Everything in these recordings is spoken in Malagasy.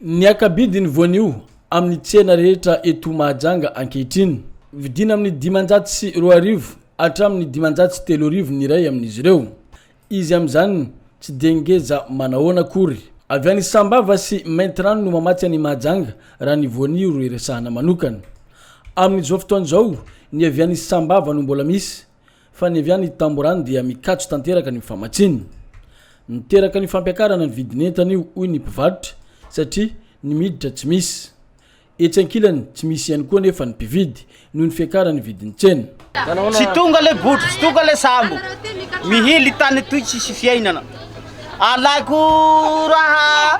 Ny hakabidin'ny voanio amin'ny tsena rehetra eto Mahajanga ankehitriny. Vidiana amin'ny dimanjato sy roa arivo hatramin'ny dimanjato sy telo arivo ny iray amin'izy ireo. Izy amin'izany tsy dia ngeza manahoana akory. Avy any Sambava sy Maintirano no mamatsy an'i Mahajanga raha ny voanio ro iresahana manokana. Amin'izao fotoana izao ny avy any Sambava no mbola misy Fa ny avy any Tamborano dia mikatso tanteraka ny famatsiana. Niteraka ny fampiakarana ny vidin'entana io, hoy ny mpivarotra, satria ny miditra tsy misy. Etsy ankilany, tsy misy ihany koa anefa ny mpividy, noho ny fiakaran'ny vidin'ny tsena. Tsy tonga le botry tsy tonga le sambo mihily tany toy tsisy fiainana alako raha.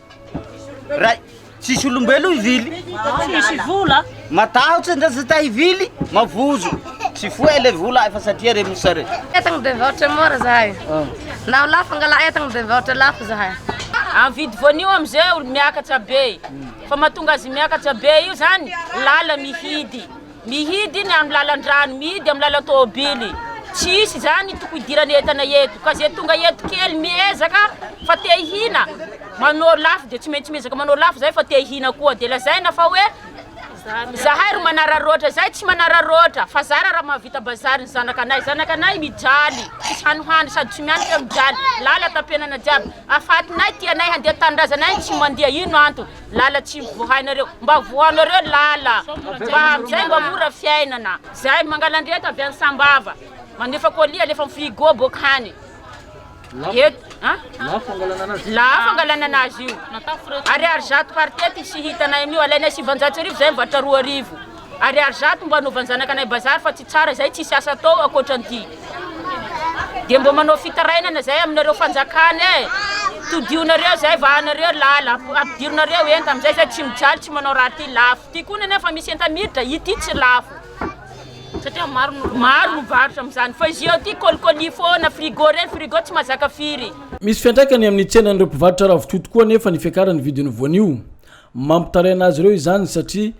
Ray, tsisy olombelo hivily. Tsisy vola. Matahotra ndra zata hivily, mavozo. Tsy foe le vola efa satria re mosa re. Entagna be mivarotra mora zahay. Ah. Na lafo angala entagna be mivarotra lafo zahay. Amin'ny vidy voanio amin'izay miakatra be. Fa mahatonga azy miakatra be io zany lala mihidy. Mihidy ny amin'ny lalan-drano, mihidy amin'ny lalan-tôbily, tsy hisy izany toko idirana entana eto, ka izay tonga eto kely miezaka fa te hihina, manao lafo dia tsy maintsy miezaka manao lafo izay fa te hihina koa, dia lazaina fa hoe zahay ry manararaotra, izay tsy manararaotra fa zara raha mahavita bazary ny zanakanay, zanakanay mijaly, tsisy hany hoany sady tsy mianika mijaly, lala tampenana jiaby, afatinay, tianay handeha tanindrazanay no tsy mandeha, ino antony? Lala tsy vohainareo mba vohanareo lala mba amizay mba mora fiainana zay mangalandriaka avy any sambava mandefa colis alefa am frigo boka hany et an lafo angalana anazy io ariary zato par tete tsy hitanay amio alainay sivanjato sy arivo zay mivatra roa arivo Ariary zato mbo anovan'ny zanakanay bazary fa tsy tsara zay tsisy asa atao akoatran'ity de mbo manao fitarainana zay aminareo fanjakana e todionareo zay vahanareo lala ampidirinareo enta amizay zay tsy mijaly tsy manao raha ty lafo ty koa nefa misy enta miditra ity tsy lafo satria maro no maro no varotra amizany fa izy eo ty kolikoly foana frigo reny frigo tsy mazaka firy Misy fiantraikany amin'ny tsenan'ireo mpivarotra ravitoto koa anefa ny fiakaran'ny vidin'ny voanio. Mampitaraina azy ireo izany satria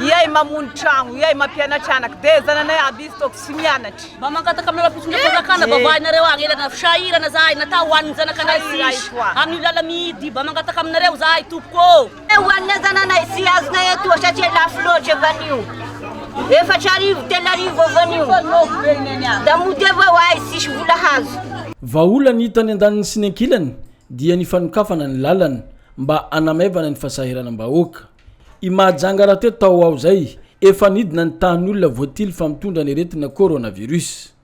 Iay mamono tragno, iay mampianatry anaka, de zananay aby izy toky tsy mianatry. Mba mangataka aminareo fitondram-panjakana mba vahainareo agnelana sahirana zahay natao ho an'ny zanakanay sisy amin'io lala mihidy mba mangataka aminareo zahay tompoko ô. Ho an'ny zananay tsy azonay atoa satria lafo loatra vanio efatra arivo telo arivo eo vanio da mody avao ahay tsisy vola hazo. Vahaolana hita any andaniny sy ny ankilany dia ny fanokafana ny lalana mba hanamaivana ny fasahiranam-bahoaka. I Mahajanga raha teo tao ao zay efa nidina ny tahan'olona voatily fa mitondra ny aretina coronavirus.